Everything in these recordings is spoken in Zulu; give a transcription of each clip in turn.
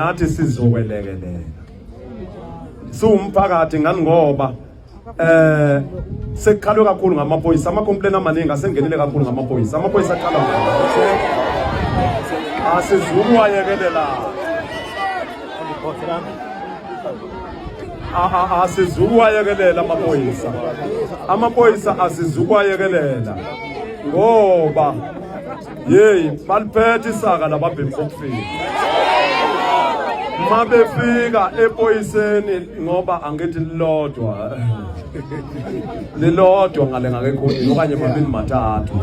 nathi sizokwelekelela siwumphakathi ngani ngoba eh sekukhalwe kakhulu ngamaphoyisa ama-complain amaningi asengenile kakhulu ngamaphoyisa amaphoyisa akhala asizukuwayekelela asizukuwayekelela amaphoyisa amaphoyisa asizukuwayekelela ngoba yeyi baliphethe isaka lababhemi bokufika uma befika epoyiseni ngoba angithi lilodwa lilodwa ngale ngakekhonini okanye mabili mathathu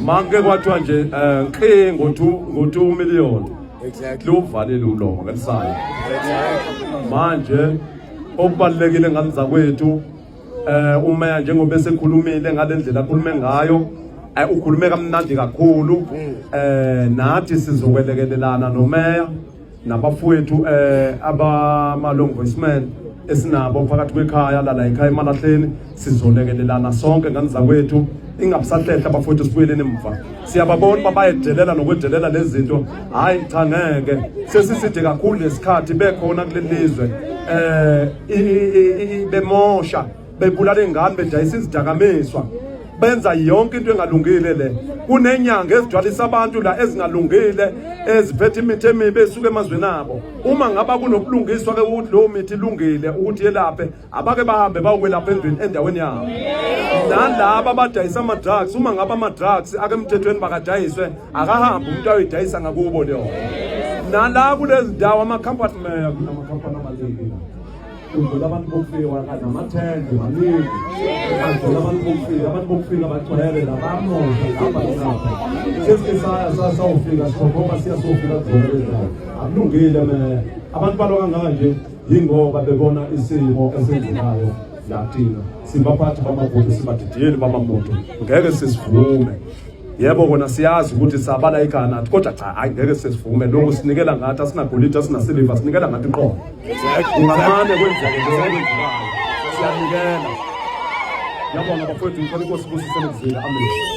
make kwathiwa nje um eh, qi ngo-two million liwuvalile ulomo ngelisayo manje okubalulekile ngani zakwethu eh umeya njengoba esekhulumile ngalendlela akhulume ngayo eh, ukhulume kamnandi kakhulu mm. eh nathi sizokwelekelelana nomeya nabafowethu eh abama long voiceman esinabo phakathi kwekhaya lala ekhaya emalahleni sizolekelelana sonke ngani zakwethu ingabusahlehla abafowethu sibuyeleni emva siyababona uba bayedelela nokwedelela le zinto hhayi cha ngeke sesiside kakhulu lesikhathi bekhona kuleli lizwe um bemosha bebulala ingane bedayisa izidakamizwa benza yonke into engalungile le kunenyanga ezigcwalisa abantu la ezingalungile eziphethe imithi emibi esuke emazweni abo uma ngaba kunobulungiswa ke ukuthi lowo mithi ilungile ukuthi yelaphe abake bahambe bayokwelapha endweni endaweni yabo nalaba abadayisa ama-drugs uma ngabe ama-drugs ake emthethweni bakadayiswe akahambe umuntu ayoyidayisa ngakubo leyo nala kulezi ndawo amakhampani amakhampani amaningi kudlula abantu bokufika namathende maningi badlula abantu bokufika abantu bokufika bagcwele labamosha labanapha sesike saya sasawufika sikhomba siyasofika kuzona lezayo akulungile me abantu balwa kangaka nje yingoba bebona isimo esenziwayo lathina sibaphathi bamagudu sibadidiyeli bamamoto ngeke sisivume yebo kona siyazi ukuthi sabala ikanati kodwa cha hayi ngeke sesivume lokhu sinikela ngathi asinagolide asinasiliva sinikela ngathi qo ungamane kwenzeke njengoba siyanikela yabona bafowethu ngicela inkosi kusisele kuzile amen